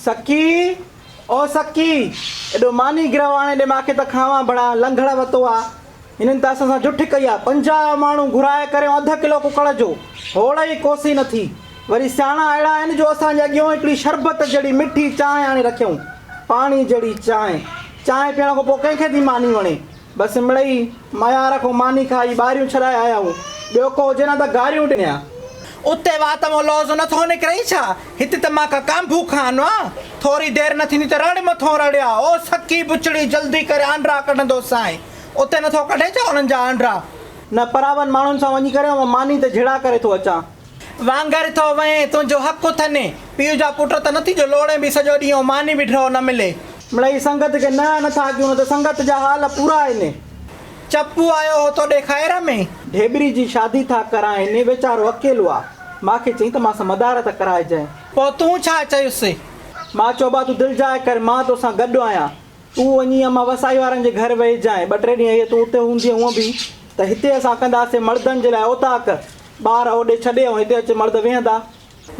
سڪي، او سڪي! ايڏو ماني گرهه آڻي ڏي مان کي ته کاوان ڀڙا لنگهڙ وتو آ. هنن ته اسان سان جٺ ڪئي آ. پنجاهه ماڻهو گهرائي ڪريون اڌ ڪلو ڪڪڙ جو. هوڙ ئي ڪوسي نه ٿي. وري سياڻا اهڙا آهن جو اسان جي اڳيون هڪڙي شربت جهڙي مٺي چانهه آڻي رکيائون. پاڻي جهڙي چانهه. چانهه پيئڻ کان پوء ڪنهن کي ٿي ماني وڻي. بس مڙئي ميار کان ماني کائي ٻاريون ڇڏائي آيائون. ٻيو ڪو هجي نه ته گاريون ڏنيان. اتي وات مان لوظ نه ٿو نڪرئي ڇا؟ هت ته مان ڪا ڪانڀو کان آنو آن. ٿوري دير نه ٿيندي ته رڙ مٿو رڙيا. او سڪي بچڙي جلدي ڪر آنڊرا ڪڍندو سائين. اتي نه ٿو ڪڍي ڇا انهن جا آنڊرا؟ نه پراون ماڻهن سان وڃي ڪري ماني ته جهڙا ڪري ٿو اچان. وانگر ٿو وئين، تنهنجو حق اٿن. پيء جا پٽ ته نه ٿي جو لوڙين به سڄو ڏينهن ۽ ماني به ڍؤ نه ملي. مڙئي سنگت کي نه نه ٿا ڪيون نه ته سنگت جا حال پورا آهن. چپو آيو هو توڏي خير ۾. ڍيٻري جي شادي ٿا ڪرائين. ويچارو اڪيلو آ. ماء کي چئي ته مانسان مدار ته ڪرائجانء. پوء تون ڇا چيس؟ ماء چيو ابا تون دلجاء ڪر مان توسان گڏ آهيان. تون وڃي امان وسائي وارن جي گهر ويهجانء. ٻه ٽي ڏينهن اهي تون اتي هوندينء هونء به ته هتي اسان ڪنداسين مڙدن جي لاء اوطاق. ٻار اوڏي ڇڏي ۽ هتي اچي مرد ويهندا.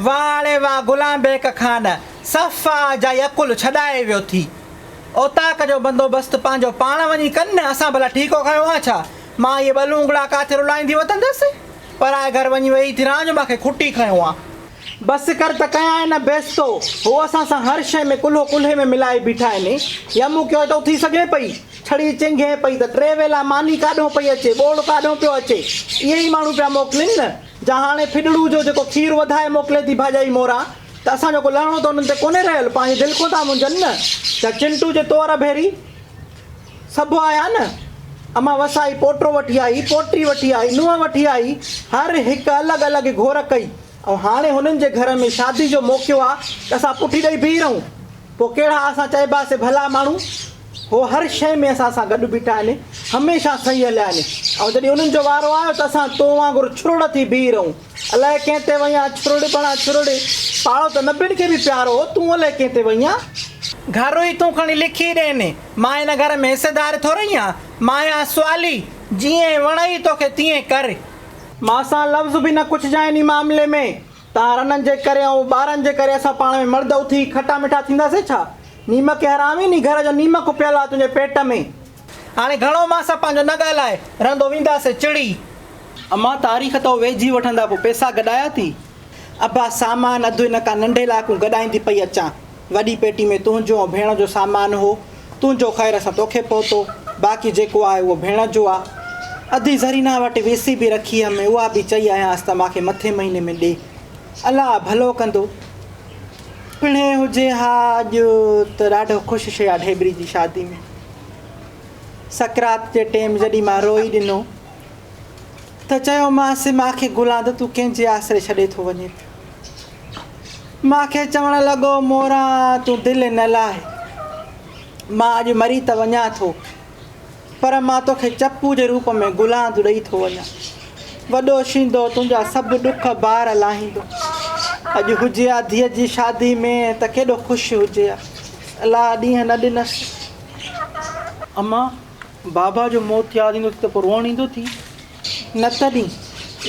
واهه اڙي واهه غلام بيڪ خان صفا جائي عقل ڇڏائي ويو ٿي. اوطاق جو بندوبست پنهنجو پاڻ وڃي ڪن نه اسان ڀلا ٺيڪو کنيو آ ڇا؟ مان اهي ٻه لونگڙا ڪاٿي رلائيندي وتندس؟ پرائي گهر وڃي ويهي ٿي رهان جو مان کي کٽي کنيو آ. بس ڪر ته ڪيانء نه بيستو. هو اسان سان هر شيء ۾ ڪلهو ڪلهي ۾ ملائي بيٺا آهن. يمو ڪيو ته اٿي سگهي پئي. ڇڙي چنگهي پئي ته ٽي ويلا ماني ڪاڏهون پئي اچي، ٻوڙ ڪاڏهون پيو اچي. اهي ئي ماڻهو پيا موڪلين نه، جا هاڻي ڦڏڙو جو جيڪو کير وڌائي موڪلي ٿي ڀاڄائي موران، ته اسان جو ڪو لهڻو ته انهن تي ڪونهي رهيل، پنهنجي دل کون ٿا منجهن نه. جا چنٽو جي تؤر ڀيري سڀ آيا نه، امان وسائي پوٽو وٺي آئي، پوٽي وٺي آئي، نونهن وٺي آئي، هر هڪ الڳ الڳ گهور ڪئي. ۽ هاڻي هنن جي گهر ۾ شادي جو موقعو آ ته اسان پٺي ڏئي بيهي رهون. پوء ڪهڙا اسان چئبا سي ڀلا ماڻهو. هو هر شيء ۾ اسان سان گڏ بيٺا آهن. هميشه صحيح هليا آهن. ۽ جڏهن انهن جو وارو آيو ته اسان تو وانگر ڇرڙ ٿي بيهي رهون. الائي ڪنهن تي وئين آ ڇرڙ بڻا ڇرڙ. پاڙو ته نبين کي به پيارو هو. تون الائي ڪنهن تي وئين آ. گهر ئي تون کڻي لکي ڏين. مان هن گهر ۾ حصيدار ٿورئي آ. مان آهيان سوالي. جيئن وڻئي توکي تيئن ڪر. مان سان لفظ به نه ڪڇجان انهي معاملي ۾، تهان رنن جي ڪري ۽ ٻارن جي ڪري اسان پاڻ ۾ مرد اٿي کٽا مٺا ٿينداسين ڇا؟ نيمڪي حرامي انهي گهر جو نيمڪ پيل آهي تنهنجي پيٽ ۾. هاڻي گهڻو مان سان پنهنجو نه ڳالهاء، رهندو وينداسين چڙي. امان تاريخ تو ويجهي وٺندا پوء پئسا گڏايا ٿي. ابا سامان اڌ هن ڪا ننڍي لاء ڪون گڏائيندي پئي اچان. وڏي پيٽي ۾ تنهنجو ۽ ڀيڻ جو سامان هو. تنهنجو خير سان توکي پهتو. باقي جيڪو آهي اهو ڀيڻ جو آ. ادي زرينه وٽ وي سي به رکي همه اها به چئي آيانس ته مانکي مٿين مهيني ۾ ڏي. الله ڀلو ڪندو. پڻهين هجي ها اڄ ته ڏاڍو خوش شي آ ڍيبري جي شادي ۾. سڪرات جي ٽيم جڏهن مان روئي ڏنو ته چيومانس مانکي گلان ته تون ڪنهنجي آسري ڇڏي ٿو وڃين. مان کي چوڻ لڳو، موران تون دل نه لاهه، مان اڄ مري ته وڃان ٿو، پر مان توکي چپو جي روپ ۾ گلاند ڏئي ٿو وڃان. وڏو شينڌو تنهنجا سڀ ڏک بار لاهيندو. اڄ هجي ها ڌيء جي شادي ۾ ته ڪيڏو خوش هجي ها. الاء ڏينهن نه ڏنس. امان، بابا جو موت ياد ايندو ٿي ته پوء روئڻ ايندو ٿي؟ نه تڏهن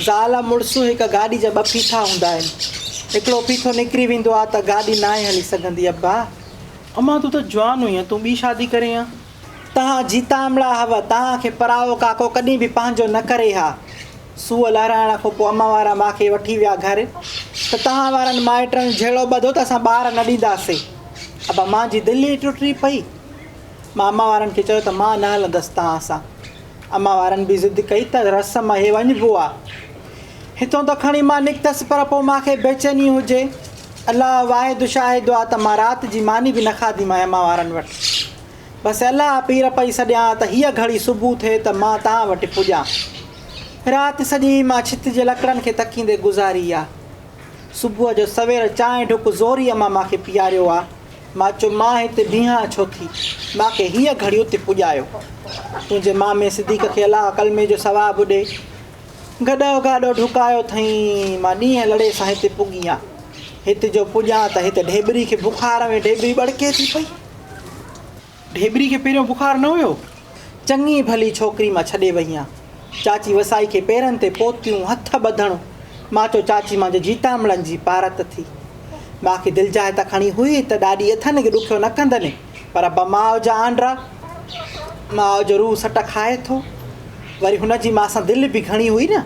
زال ۽ مڙس هڪ گاڏي جا ٻه ڦيٿا هوندا آهن. هڪڙو ڦيٿو نڪري ويندو آ ته گاڏي ناهي هلي سگهندي. ابا! امان تون ته جوان هئين ها، تون ٻي شادي ڪرين ها. توهان جيتامڙا هئو، توهان کي پرائو ڪاڪو ڪڏهن به پنهنجو نه ڪري ها. سوء لهرائڻ کان پوء امان وارا مان کي وٺي ويا گهر ته توهان وارن مائٽن جهيڙو ٻڌو ته اسان ٻار نه ڏينداسي. ابا! مان جي دل ئي ٽٽي پئي. مان امان وارن کي چيو ته مان نه هلندس توهان سان. امان وارن به ضد ڪئي ته رس مهي وڃ بوا هتون ته کڻي مان نڪتس پر پو مان کي بيچيني هجي الله واحد شاهد آ ته مان رات جي ماني به نه کاڌي مان امان وارن وٽ بس الله پير پئي سڏيان ته هيء گهڙي صبح ٿئي ته مان تان وٽ پڄان رات سڄي مان ڇت جي لڪڙن کي تڪيندي گذاري آ صبح جو سوير چانهه ڍڪ زوري امان مان کي پياريو آ مان چيو مان هتي بيهان ڇو ٿي، مان کي هيء گهڙي اتي پڄايو. تنهنجي مامي صديق کي الله ڪلمي جو ثواب ڏي. گڏهو گاڏو ڍڪايو اٿئين، مان ڏينهن لڙي سان هتي پڳي هان. هت جو پڄان ته هت ڍيٻري کي بخار ۾ ڍيٻري ٻڙڪي ٿي پئي. ڍيٻري کي پهريون بخار نه هيو. چڱي ڀلي ڇوڪري مان ڇڏي وئي هان. چاچي وسائي کي پيرن تي پوتيون هٿ ٻڌڻ مان چو چاچي مانجي جيتامڙن جي پارت ٿي. باقي دلجاء ته کڻي هئي ته ڏاڏي اٿن کي ڏکيو نه ڪندن پر ابا ماء جا آنڊرا. ماء جو روح سٽ کائي ٿو. وري هن جي ماء سان دل به گهڻي هئي نه.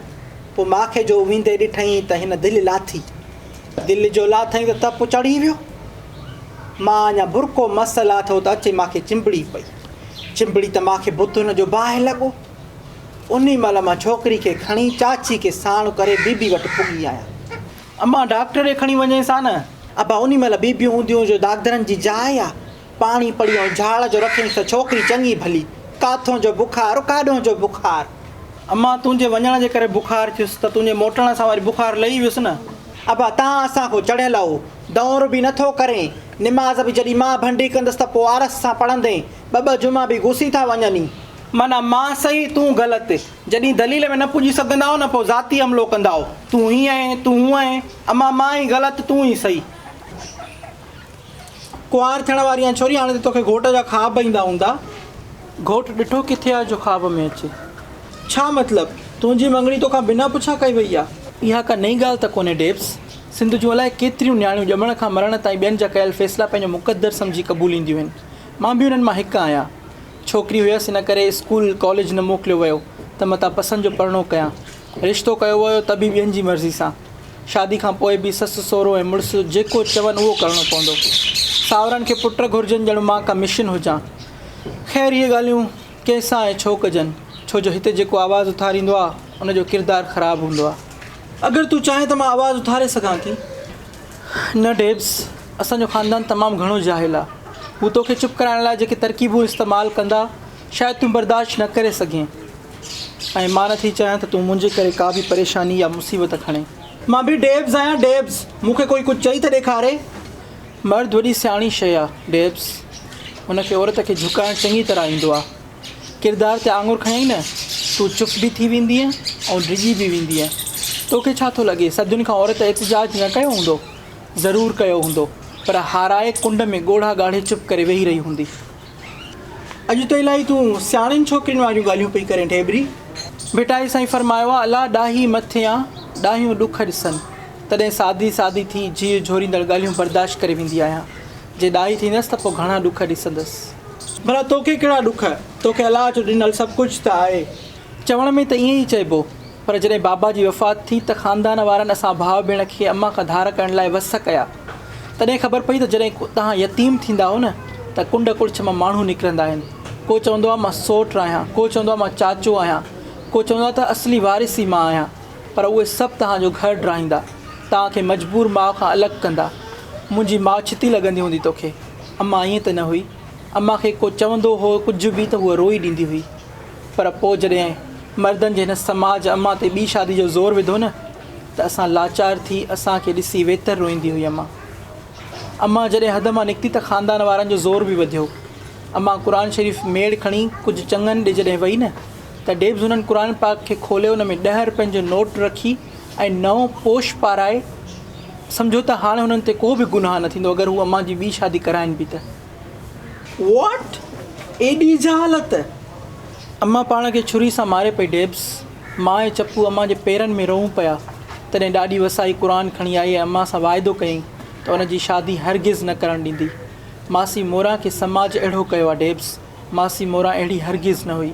پو ماکي جو ويندي ڏٺئين ته هن دل لاٿي. دل جو لاٿئين ته تپ چڙهي ويو. مان اڃا برقعو مس لاٿو ته اچي مان کي چنبڙي پئي. چنبڙي ته مان کي بت هن جو باهه لڳو. انهي مهل مان ڇوڪري کي کڻي چاچي کي ساڻ ڪري بيبي وٽ پڳي آيان. امان ڊاڪٽر ڏي کڻي وڃيس ها نه ابا انهي مهل بيبيون هونديون جو داغدرن جي جاء آ. پاڻي پڙي ۽ جهاڙ جو رکينس ته ڇوڪري چڱي ڀلي. ڪاٿون جو بخار ڪاڏهون جو بخار. امان تنهنجي وڃڻ جي ڪري بخار ٿيس ته تنهنجي موٽڻ سان وري بخار لهي ويس نه. ابا تان اسان ڪو چڙهيل او دؤر به نه ٿو ڪرين، نماز به جڏهين مان ڀنڊي ڪندس ته پو آرس سان پڙهندين، ٻه ٻه جمعا به گسي ٿا وڃن ئي. معنيٰ مان صحيح تون غلط، جڏهين دليل ۾ نه پڄي سگهندائو نه پو ذاتي حملو ڪندائو، تون هيئن ائين، تون هونئن ائين، امان مان ئي غلط تون ئي صحيح. ڪنوار ٿيڻ واري آهين ڇوري هاڻي ته توکي گهوٽ جا خواب ايندا هوندا. گهوٽ ڏٺو ڪٿي آهي جو خواب ۾ اچي. ڇا مطلب؟ تنهنجي مڱڻي توکان بنا پڇا ڪئي وئي آهي. اها ڪا نئين ڳالهه ته ڪونهي ڊيبس. سنڌ جون الائي ڪيتريون نياڻيون ڄمڻ کان مرڻ تائين ٻين جا ڪيل فيصلا پنهنجو مقدر سمجهي قبولينديون آهن. مان به انهن مان هڪ آهيان. ڇوڪري هيس ان ڪري اسڪول ڪاليج نه موڪليو ويو ته متان پسند جو پرڻو ڪيان. رشتو ڪيو ويو ته به ٻين جي مرضي سان. شادي کان پوء به سس سهرو ۽ مڙس جيڪو چون اهو ڪرڻو پوندو. ساورن کي پٽ گهرجن ڄڻ مان ڪا مشن هجان. خير اهي ڳالهيون ڪنهن سان ۽ ڇو ڪجن. ڇو جو هتي جيڪو آواز اٿاريندو آ ان جو ڪردار خراب هوندو آ. اگر تون چاهين ته مان آواز اٿاري سگهان ٿي. نه ڊيبس اسان جو خاندان تمام گهڻو جاهل آ. هو توکي چپ ڪرائڻ لاء جيڪي ترڪيبون استعمال ڪندا شايد تون برداشت نه ڪري سگهين ۽ مان نه ٿي چاهيان ته تون منهنجي ڪري ڪا به پريشاني يا مصيبت کڻين. مان به ڊيبز آهيان ڊيبز، مون کي ڪوئي ڪجهه چئي ته ڏيکاري. مرد وڏي سياڻي شيء آ ڊيبز، ان کي عورت کي جهڪائڻ چڱي طرح ايندو آ. ڪردار تي آڱر کنيائين نه، تون چپ به ٿي ويندينء ۽ ڊڄي به ويندينء. تو کي ڇا ٿو لڳي، صدين کان عورت احتجاج نه ڪيو هوندو؟ ضرور ڪيو هوندو، پر هارائي ڪنڊ ۾ ڳوڙها ڳاڙهي چپ ڪري ويهي رهي هوندي. اڄ ته الائي تون سياڻين ڇوڪرين واريون ڳالهيون پئي ڪرين ڍيبري. ڀٽائي سائين فرمايو آ الا ڏاهي مٿيان ڏاهيون ڏک ڏسن تڏهن سادي سادي ٿي جيء جهوريندڙ ڳالهيون برداشت ڪري ويندي آهيان جي ڏاهي ٿيندس ته پوء گهڻا ڏک ڏسندس. ڀلا توکي ڪهڙا ڏک توکي الا جو ڏنل سڀ ڪجهه ته آهي. چوڻ ۾ ته ائين ئي چئبو پر جڏهن بابا جي وفات ٿي ته خاندان وارن اسان ڀاء ڀيڻ کي امان کان ڌار ڪرڻ لاء وس ڪيا. تڏهن خبر پئي ته جڏهن توهان يتيم ٿيندا آهو نه ته ڪنڊ ڪڙڇ مان ماڻهو نڪرندا آهن. ڪو چوندو آهي مان سوٽ آهيان، ڪو چوندو آهي مان چاچو آهيان، ڪو چوندو آهي ته اصلي وارث ئي مان آهيان. پر اهي سڀ توهان جو گهر ڊاهيندا، توهان کي مجبور ماء کان الڳ ڪندا. منهنجي ماء ڇتي لڳندي هوندي توکي. امان ائين ته نه هئي. امان کي ڪو چوندو هو ڪجهه به ته هوء روئي ڏيندي هئي. پر پوء جڏهن مردن جي هن سماج امان تي ٻي شادي جو زور وڌو نه ته اسان لاچار ٿي اسان کي ڏسي ويتر روئيندي هئي امان امان جڏهن حد مان نڪتي ته خاندان وارن جو زور به وڌيو امان قرآن شريف ميڙ کڻي ڪجهه چڱن ڏي جڏهن وئي نه ته ڊيبز هنن قرآن پاڪ کي کولي ان ۾ ڏهه رپين جو نوٽ رکي ۽ نئون پوش پارائي سمجهو ته هاڻ هنن تي ڪو به گناهه نه ٿيندو اگر هو امان جي ٻي شادي ڪرائين به ته واٽ ايڏي جهالت! امان پاڻ کي ڇري سان ماري پئي ڊيبس. ماء ۽ چپو امان جي پيرن ۾ روئون پيا. تڏهن ڏاڏي وسائي قرآن کڻي آئي ۽ امان سان واعدو ڪيائين ته ان جي شادي هرگز نه ڪرڻ ڏيندي. ماسي موران کي سماج اهڙو ڪيو آ ڊيبس. ماسي موران اهڙي هرگز نه هئي.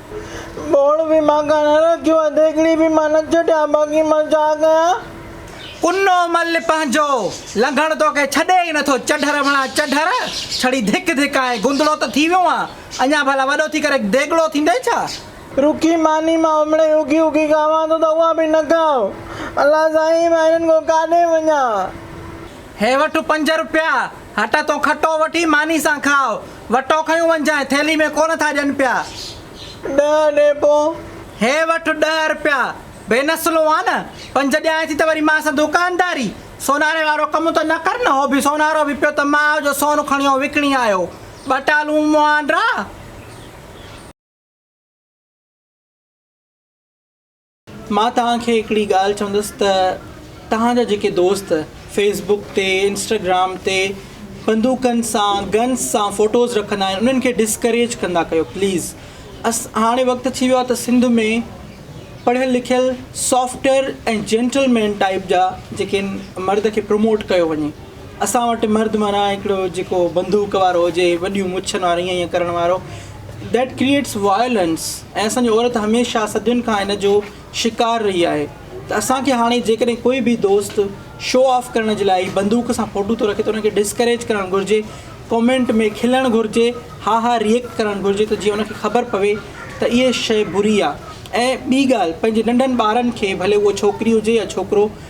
ٻوڙ به مان ڪانه رکيو اٿ، هڪڙي به مان نه ڇڏيان، باقي مان ڇا ڪيان؟ ڪنو مل پنهنجو لنگهڻ توکي ڇڏي ئي نٿو، چڍر وڻا چڍر، ڇڙي ڌڪ ڌڪ آهين، گندڙو ته ٿي ويو آن، اڃا ڀلا وڏو ٿي ڪري ديڳڙو ٿيندين ڇا؟ رکي ماني مان امڙي اوکي اوکي کاوان ٿو ته اها به نه کاء، الله سائين مان هنن کان ڪاڏي وڃان؟ هي وٺ پنج روپيا، هٽ تون کٽو وٺي ماني سان کاء. وٽو کنيون وڃجانء، ٿيلهي ۾ ڪونه ٿا ڏين پيا. ڏهه اني پون. هي وٺ ڏهه رپيا، بي نسلون آن، پنج ڏيانء ٿي ته وري مان سان دوڪانداري، سوناري وارو ڪم ته نه ڪر نه، هو به سونارو به پيو ته ماء جو سون کڻيو وڪڻي آيو، ٻه ٽالون مهانڊرا. مان توهان کي هڪڙي ڳالهه چوندس ته توهان جا جيڪي دوست فيس بڪ تي انسٽاگرام تي بندوقن سان گنس سان فوٽوز رکندا آهن انهن کي ڊسڪريج ڪندا ڪيو پليز هاڻي وقت ٿي ويو آهي ته سنڌ ۾ پڙهيل لکيل سافٽر ۽ جينٽل مين ٽائيپ جا جيڪي مرد کي پروموٽ ڪيو وڃي اسان وٽ مرد معنيٰ هڪڙو جيڪو بندوق وارو هجي وڏيون مڇن وارو هيئن هيئن ڪرڻ وارو ڊيٽ ڪريئيٽس وائلنس ۽ اسان جي عورت هميشه صدين کان ان جو شڪار رهي آهي ته اسان کي هاڻي جيڪڏهن ڪوئي به دوست شو آف ڪرڻ جي لاء بندوق سان فوٽو ٿو رکي ته ان کي ڊسڪريج ڪرڻ گهرجي ڪامينٽ ۾ کلڻ گهرجي ها ها ريئڪٽ ڪرڻ گهرجي ته جيئن ان کي خبر پوي ته اهي شي بري آهي ۽ ٻي ڳالهه پنهنجي ننڍن ٻارن کي ڀلي اهو ڇوڪري هجي يا ڇوڪرو